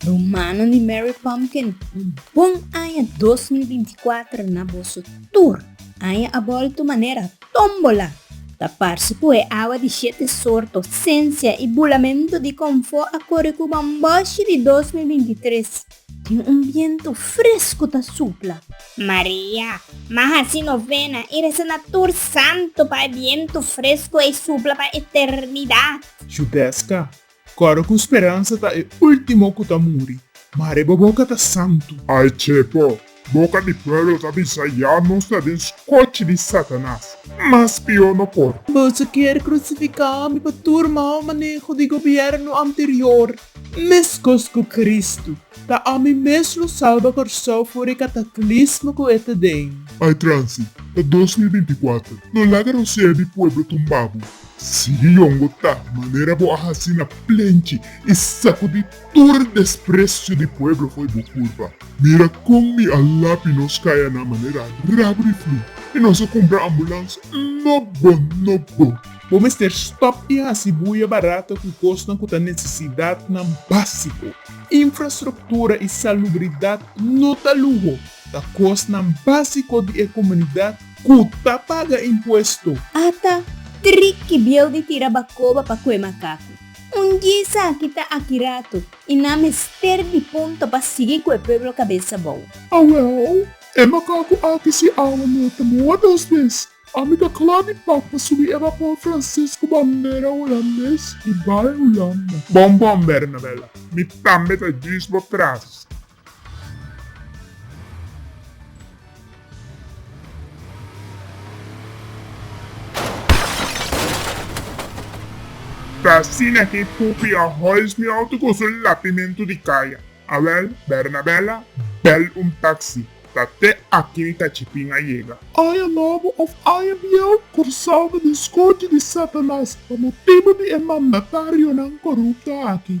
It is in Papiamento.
Rumannan di Mary Pumpkin, un bon aña dos mil binti kuater na boso tur! Aña a bolto manera tómbola! Ta parse ku e awa di shete sorto, sensia i bulamentu di konfó a kore ku bambòshi di dos mil binti tres. Tin un bientu fresku ta supla. Maria, Ma haci novena i reza na tur santu pa e bientu fresku ei supla pa eternidad. Judesca, Coro cu speransa ta e ultimo cu ta muri. Mare bo boca ta santu. Ay, Chepo, Boka di pueblo ta bisa, Ya nos ta den skochi di Satanas, mas pió no por. Boso kier krusifiká mi pa tur mau maneho di gobièrnu anterior, meskos ku Kristu. Ta ami mes lo salba Kòrsou for e kataklismo ku e ta den. Ai transi, ta dos mil binti kuater. No laga rosea di pueblo tumbabu. Sigui yongo ta, manera bo a hasi na plenchi i sakudí. Tur desprecio di pueblo foi bo culpa. Mira con mi a lapi nos caya na manera rabri flu y nos a cumpra ambulance nog bo nog bo. Bo mester stop di haci bulla barata cu cosnan cu ta necesidadnan basico. Infrastructura y salubridad no ta luho, ta cosnan basico di e comunidad cu ta paga impuesto. Ata tri kibiel di tira bacoba pa cue macacu. Un dje esaki ta aki ratu, i nan mester di punto pa sigui ku e pueblo kabesa bou. Awèl, e makaku aki si awa no ta boa dos bes. Ami ta kla di pak pa subi e bapor franses ku bandera hulandes di bai Hulanda. Bon, bon, Bernabela, mi tambe ta djis bo tras. Ta asina ke pupi a hoist mi auto ku su lapimentu di kaya. Awel, Bernabella, bel un taksi. Ta te aki mi ta chipin a yega. I a nobo of I a bieu, Kòrsou ta diskuti di Satanas pa motibu di e mandatarionan korupto aki.